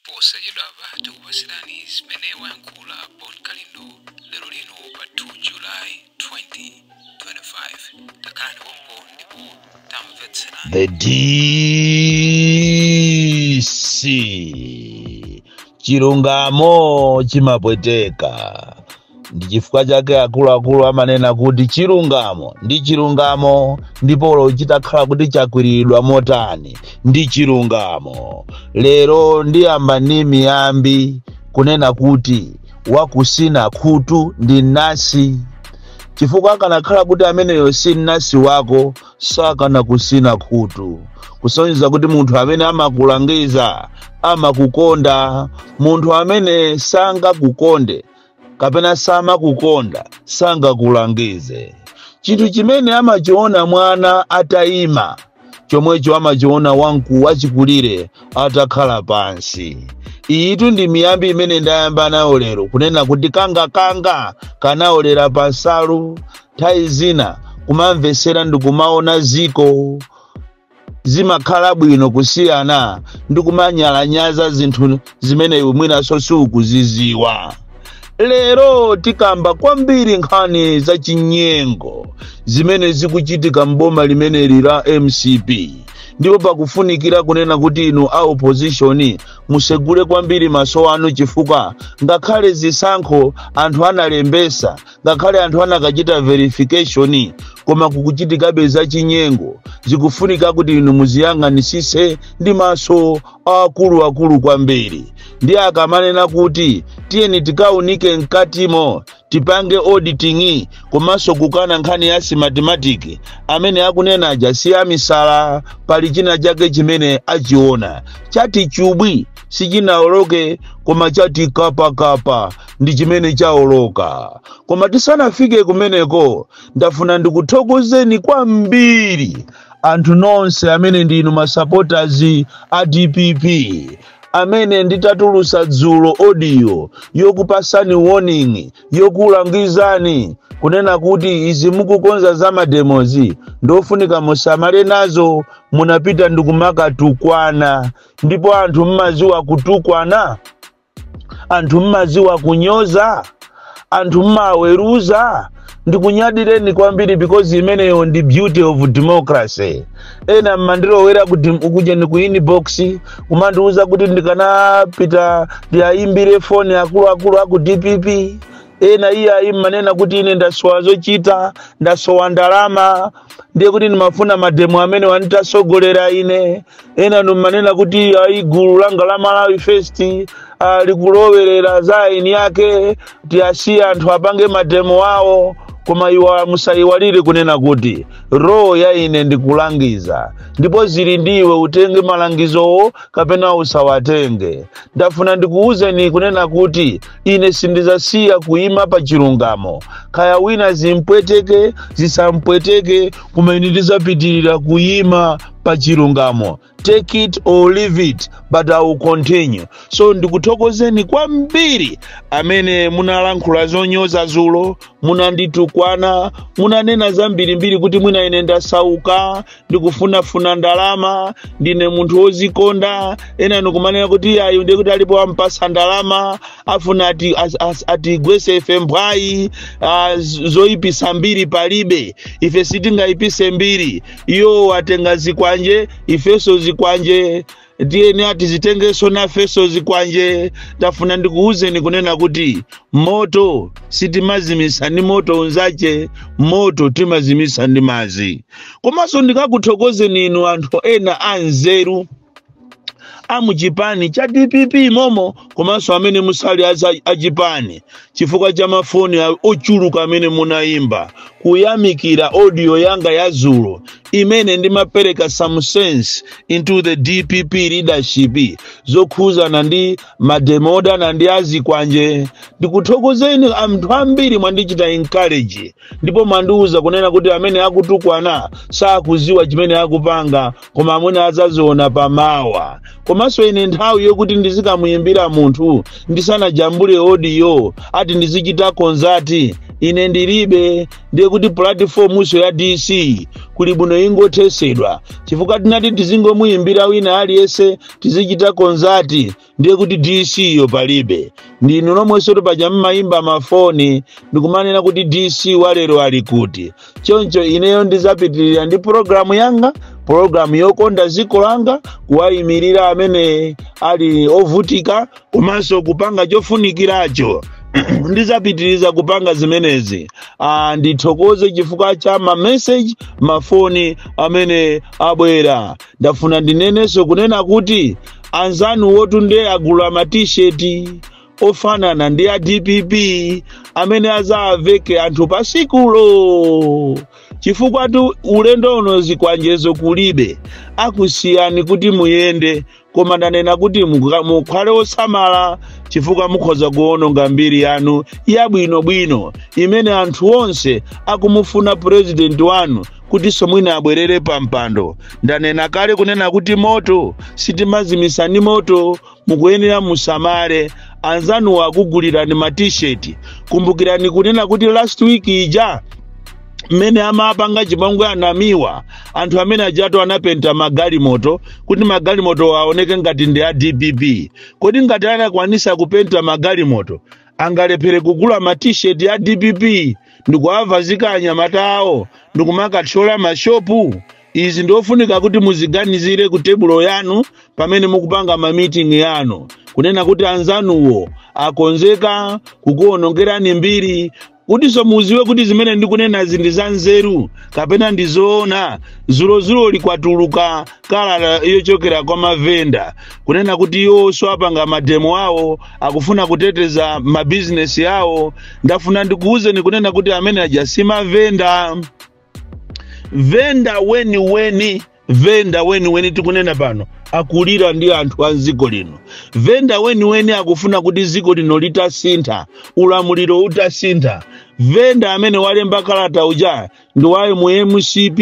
posachedwapa tikupatsirani zimene wayankhula bon kalindo lero lino pa 2 july 2025 takhalani pompo ndipo tamvetserani The DC chilungamo chimapweteka ndi chifukwa chake akuluakulu amanena kuti chilungamo ndi chilungamo ndipo olo chitakhala kuti chakwiriridwa motani ndi chilungamo lero ndiyamba ndi miyambi kunena kuti wakusina khutu ndi nasi chifukwa akanakhala kuti ameneyo si nasi wako sakanakusina khutu kusonyeza kuti munthu amene amakulangiza amakukonda munthu amene sangakukonde kapena samakukonda sangakulangize chinthu chimene amachiona mwana atayima chomwecho amachiona wamkulu wachikulire atakhala pansi iyitu ndi miyambi imene ndayamba nayo lero kunena kuti kanga kanga kanaolera pansalu nthawi zina kumamvetsera ndi kumaona ziko zimakhala bwino kusiyana ndi kumanyalanyaza zinthu zimene iwe mwinanso sukuziziwa lero tikamba kwambiri nkhani za chinyengo zimene zikuchitika m'boma limeneli la mcp ndipo pakufunikira kunena kuti inu a opposition musegule kwambiri maso anu chifukwa ngakhale zisankho anthu analembesa ngakhale anthu anakachita verification koma kukuchitikabe zachinyengo zikufunika kuti inu muziyang'anisise ndi maso akuluakulu kwambiri ndi akamanena kuti tiyeni tikaunike mkatimo tipange auditing komanso kukana nkhani ya simatimatiki amene akunena aja si amisala pali china chake chimene achiona chati chubwi sichinaoloke koma chati kapakapa ndi chimene chaoloka koma tisanafike kumeneko ndafuna ndikuthokozeni kwambiri anthu nonse amene ndinu masapotazi a dpp amene nditatulusa dzulo odiyo yokupasani warning yokulangizani kunena kuti izi mukukonza za mademozi ndofunika musamale nazo munapita ndikumakatukwana ndipo anthu mmaziwa kutukwana anthu mmaziwa kunyoza anthu mmaweruza ndikunyadireni kwambiri because imeneyo ndi beauty of democracy ena mmandilowera kuti ukujeni ku inbox kumandiuza kuti ndikanapita ndiayimbire foni akuluakulu aku dpp ena iye ayi mmanena kuti ine ndasowa zochita ndasowa ndalama ndiye kuti ndimafuna mademo amene wanditasogolera ine ena ndikumanena kuti ayi gulu langa la malawi first alikulowerera za aini yake tiyasiye anthu apange mademo awo koma iwa musayiwale kunena kuti role ya ine ndikulangiza ndipo zili ndi iwe utenge malangizowo kapena usawatenge ndafuna ndikuwuzeni kunena kuti ine sindizasiya kuyima pa chilungamo kaya wina zimpweteke zisampweteke koma ine ndizapitirira kuyima pa chilungamo take it or leave it but i will continue so ndikuthokozeni kwambiri amene munalankhula zonyoza zulo munanditukwana munanena zambirimbiri kuti mwina ine ndasauka ndikufunafuna ndalama ndine munthu wozikonda ena ndikumanena kuti iyayu ndiye kuti alipo ampasa ndalama afuna ati- as- as- atigwese ife mphwayi ah, z- zoyipisa mbiri palibe ife sitingayipise mbiri iwo atenga zikwanje ifenso zikwanje ndiye ati tizitengenso nafenso zikwanje ndafuna ndikuwuzeni kunena kuti moto sitimazimitsa ndi moto unzache moto timazimitsa ndi madzi komanso ndikakuthokozeni inu anthu ena anzeru amuchipani cha dpp momo komanso amene musali aza- achipani chifukwa cha mafoni a- ochuluka amene munayimba kuyamikira audio yanga yazulo imene ndimapereka some sense into the dpp leadership zokhuzana ndi mademo odana ndi azikwanje ndikuthokozeni anthu ambiri mwandichita encourage ndipo mwandiuza kunena kuti amene akutukwana sakuziwa chimene akupanga koma mwina azaziona pamawa komanso ine nthawi yokuti ndizikamuyimbira munthu ndisanajambule odiyo ati ndizichita konzati ine ndilibe ndiye kuti pulatifomunso ya dc kuli bwino ingothesedwa chifukwa ngati tizingomuyimbira wina aliyense tizichita konzati ndiye kuti dc yo palibe ndinu nomwenso paja mmayimba mafoni ndikumanena kuti dc walero ali kuti choncho ineyo ndizapitirira ndi pulogalamu yanga pulogalamu yokonda dziko langa kuwayimirira amene ali ovutika komanso kupanga chofunikiracho ndizapitiriza kupanga zimenezi ah, ndithokoze chifukwa cha mameseji mafoni amene abwera ndafuna ndinenenso kunena kuti anzanu wotu nde agula matisheti ofanana ndi a dpp amene azawaveke anthu pasikulo chifukwa tu ulendo uno zikwanjezo kulibe akusiyani kuti muyende koma ndanena kuti muka- mukhale osamala chifukwa mukhoza kuononga mbiri yanu yabwinobwino imene anthu onse akumufuna purezidenti wanu kutinso mwina abwerere pa mpando ndanena kale kunena kuti moto sitimazimitsa ndi moto mukuyenera musamale anzanuwo akugulirani ma t-shirt kumbukirani kunena kuti last week ija mmene amapanga chipangwe anamiwa anthu amene ajatu anapenta magalimoto kuti magalimoto aoneke ngati ndi a dpp kodi ngati anakwanisa kupenta magalimoto angalephere kugula ma t-shirt ya dpp ndikuavazika anyamata awo ndikumakathyola mashopu izi ndiofunika kuti muziganizire ku tebulo yanu pamene mukupanga mamitingi yanu kunena kuti anzanuwo akonzeka kukuonongerani mbiri kutinso muziwe kuti zimene ndikunenazi ndi za nzeru kapena ndi zoona zulozuloli kwatuluka kalata yochokera kwa mavenda kunena kuti iwo sapanga mademo awo akufuna kuteteza mabizinesi awo ndafuna ndikuwuzeni kunena kuti amene aja si mavenda venda weniweni venda weniweni tikunena pano akulira ndi anthu a mdziko lino venda weniweni akufuna kuti dziko lino litasintha ulamuliro utasintha venda amene walemba kalata uja ndi wa mu mcp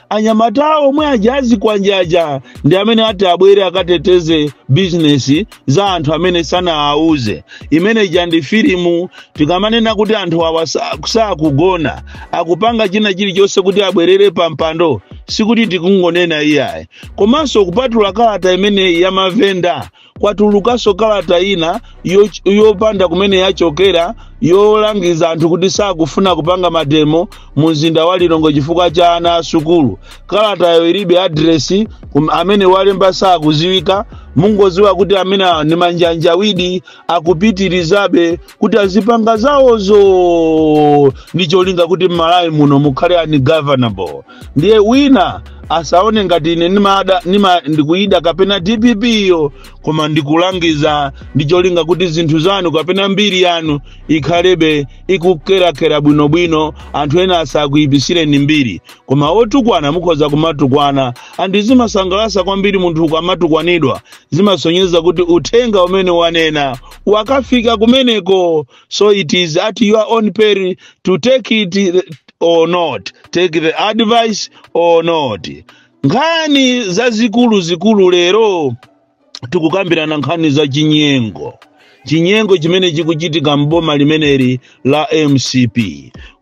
anyamata omwe aja azikwanjaja ndi amene ati abwere akateteze bizinesi za anthu amene sanawauze imene ija ndi filimu tikamanena kuti anthu awa sa- sakugona akupanga china chilichonse kuti abwerere pa mpando sikuti tikungonena iyayi komanso kupatula kalata imeneyi ya mavenda kwatulukanso kalata ina yo- yopanda kumene yachokera yolangiza anthu kuti sakufuna kupanga mademo mu mzinda wa lilongwe chifukwa cha ana a sukulu kalatayo ilibe adiresi kum- amene walemba sakuziwika mungoziwa kuti amene awa ndi manjanjawidi akupitirizabe kuti azipanga zawozo ndi cholinga kuti mmalawi muno mukhale ungovernable ndiye wina asaone ngati ine nimada nima ndikuida kapena dpp iyo koma ndikulangiza ndi cholinga kuti zinthu zanu kapena mbiri yanu ikhalebe ikukerakera bwinobwino anthu ena asakuipisireni mbiri koma otukwana mukhoza kumatukwana and zimasangalatsa kwambiri munthu ukamatukwanidwa zimasonyeza kuti uthenga umene wanena wakafika kumeneko so it is at your own peril to take it or not take the advice or not nkhani zazikuluzikulu lero tikukambirana nkhani za chinyengo chinyengo chimene chikuchitika m'boma limeneli la mcp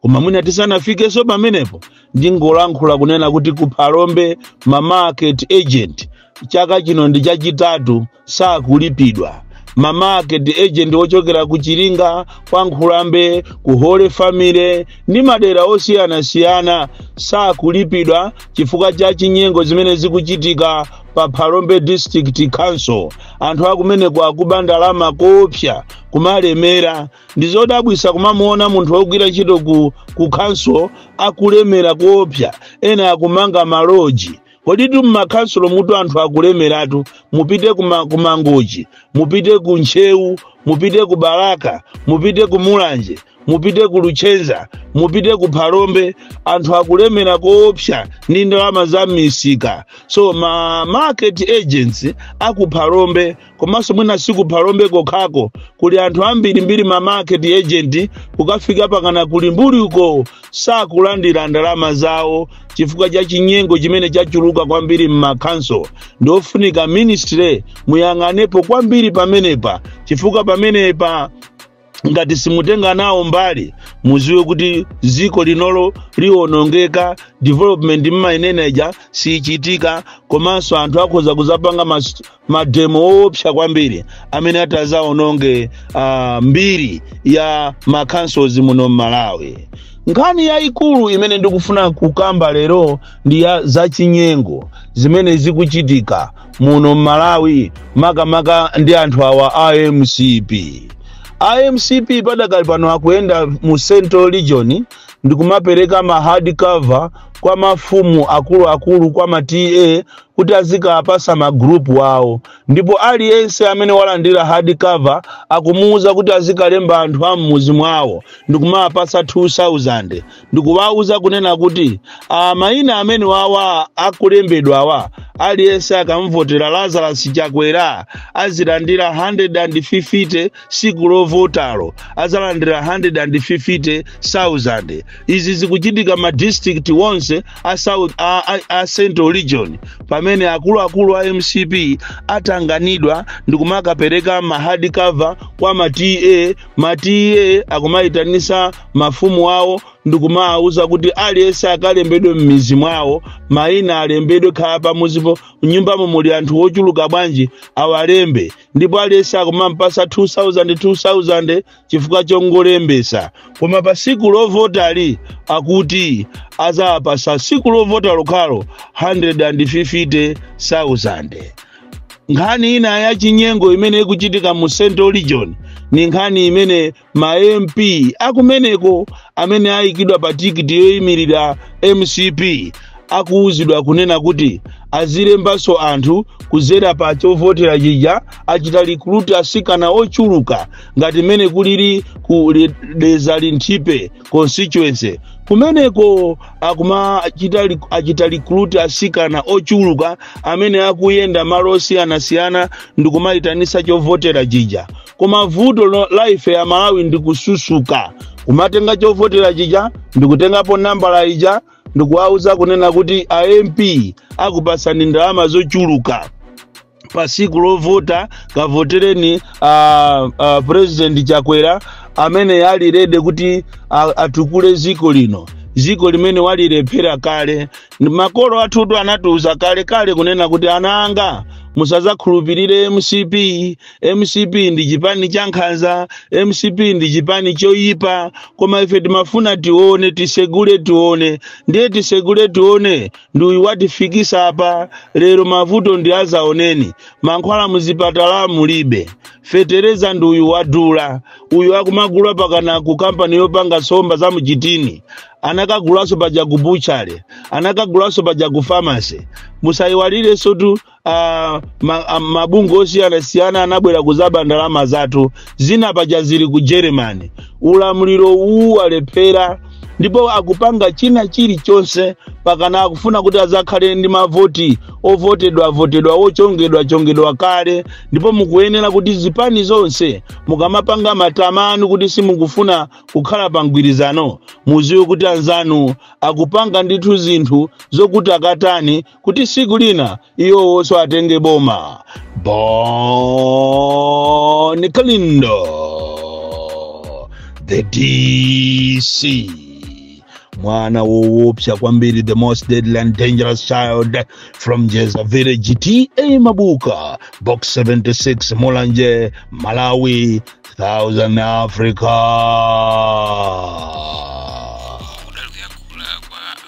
koma mwina tisanafikenso pamenepo ndingolankhula kunena kuti ku phalombe ma market agent chaka chino ndi chachitatu sakulipidwa ma market agent ochokera ku chiringa kwa nkhulambe ku holy family ndi madera osiyanasiyana sakulipidwa chifukwa cha chinyengo zimene zikuchitika pa phalombe district council anthu akumeneko akuba ndalama koopsa kumalemera ndi zodabwisa kumamuona munthu wogwira ntchito ku, ku council akulemera koopsa ena akumanga maloji kodi tu mmakhansulo mutu anthu akulemeratu mupite kumangochi mupite ku ntcheu mupite ku balaka mupite ku mulanje mupite ku luchenza mupite ku phalombe anthu akulemera koopsa ndi ndalama za misika so ma market agents aku phalombe komanso mwina si ku phalombe kokhako kuli anthu ambirimbiri ma market agent kukafika pakana ku limbuli uko sakulandira ndalama zawo chifukwa cha chinyengo chimene chachuluka kwambiri m'makhanso ndi ofunika ministry muyang'anepo kwambiri pamenepa chifukwa pamenepa ngati simutenga nawo mbali muziwe kuti ziko linolo liwonongeka development mmainena ija siyichitika komanso anthu akhoza kuzapanga mas- mademo woopsa kwambiri amene atazaononge uh, mbiri ya makhansozi muno mmalawi nkhani yayikulu imene ndikufuna kukamba lero ndi ya zachinyengo zimene zikuchitika muno mmalawi makamaka ndi anthu awa a mcp a mcp padakali pano akuyenda mu central region ndikumapereka ma hard cover kwa mafumu akuluakulu kwa ma ta kuti azikapasa magrupu awo ndipo aliyense amene walandira hard cover akumuwuza kuti azikalemba anthu a mmuzi mwawo ndikumapasa 2000 ndikuwauza kunena kuti ah, mayina amene wawa akulembedwawa aliyense akamvotera lazarus chakwera azilandira 150 siku lovotalo azalandira 150,000 izi zikuchitika ma district onse a, a, a, a central region pamene akuluakulu a mcp atanganidwa ndikumakapereka ma hard cover kwa ma ta ma ta akumayitanisa mafumu awo ndikumawawuza kuti aliyense akalembedwe m'mizi mwawo mayina alembedwe kaya pamuzipo mnyumbamo muli anthu ochuluka bwanji awalembe ndipo aliyense akumampasa 2000 2000 chifukwa chongolembesa koma pa siku lovotali akuti azawapasa siku lovota lokhalo 150000 nkhani ina ya chinyengo imene ikuchitika mu central region ni nkhani imene ma mp akumeneko amene ayikidwa pa tikiti yoyimirira mcp akuwuzidwa kunena kuti azilembanso anthu kudzera pa chovotera chija achita likuluti asikana ochuluka ngati mmene kulili ku Dedza linthipe constituency kumeneko akuma- achita recruit asikana ochuluka amene akuyenda malo osiyanasiyana ndi kumayitanisa chovotera chija koma vuto la ife amalawi ndi kususuka kumatenga chovotera chija ndikutengapo nambala ija ndikuwauza kunena kuti a mp akupasani ndalama zochuluka pa siku lovota kavotereni president chakwera amene ali ready kuti a- atukule ziko lino ziko limene walilephera kale makolo athutu anatiuza kale kale kunena kuti ana anga musazakhulupirire mcp mcp ndi chipani cha nkhanza mcp ndi chipani choyipa koma ife timafuna tione tisegule tione ndiye tisegule tione ndi uyu watifikisa apa lero mavuto ndi azaoneni mankhwala muzipatala mulibe fetereza ndi uyu wadula uyu akumagula pakana ku kampani yopanga somba za mchitini anakagulanso paja ku butchale anakagulanso paja ku famasi musayiwalirensotu ah, ma- ah, mabungwe osiyanasiyana anabwera kuzaba ndalama zathu zina paja zili ku germany ulamuliro uwu walephera ndipo akupanga china chilichonse pakana akufuna kuti azakhale ndi mavoti ovotedwa votedwa ochongedwa chongedwa kale ndipo mukuyenera kuti zipani zonse mukamapanga matama anu kuti simukufuna kukhala pa mgwirizano muziwe kuti anzanu akupanga ndithu zinthu zokuti akatani kuti siku lina iwowonso atenge boma bon kalindo the dc mwana wowopsa kwambiri the most deadly and dangerous child from jeza village ta mabuka box 76 mulanje malawi southern africa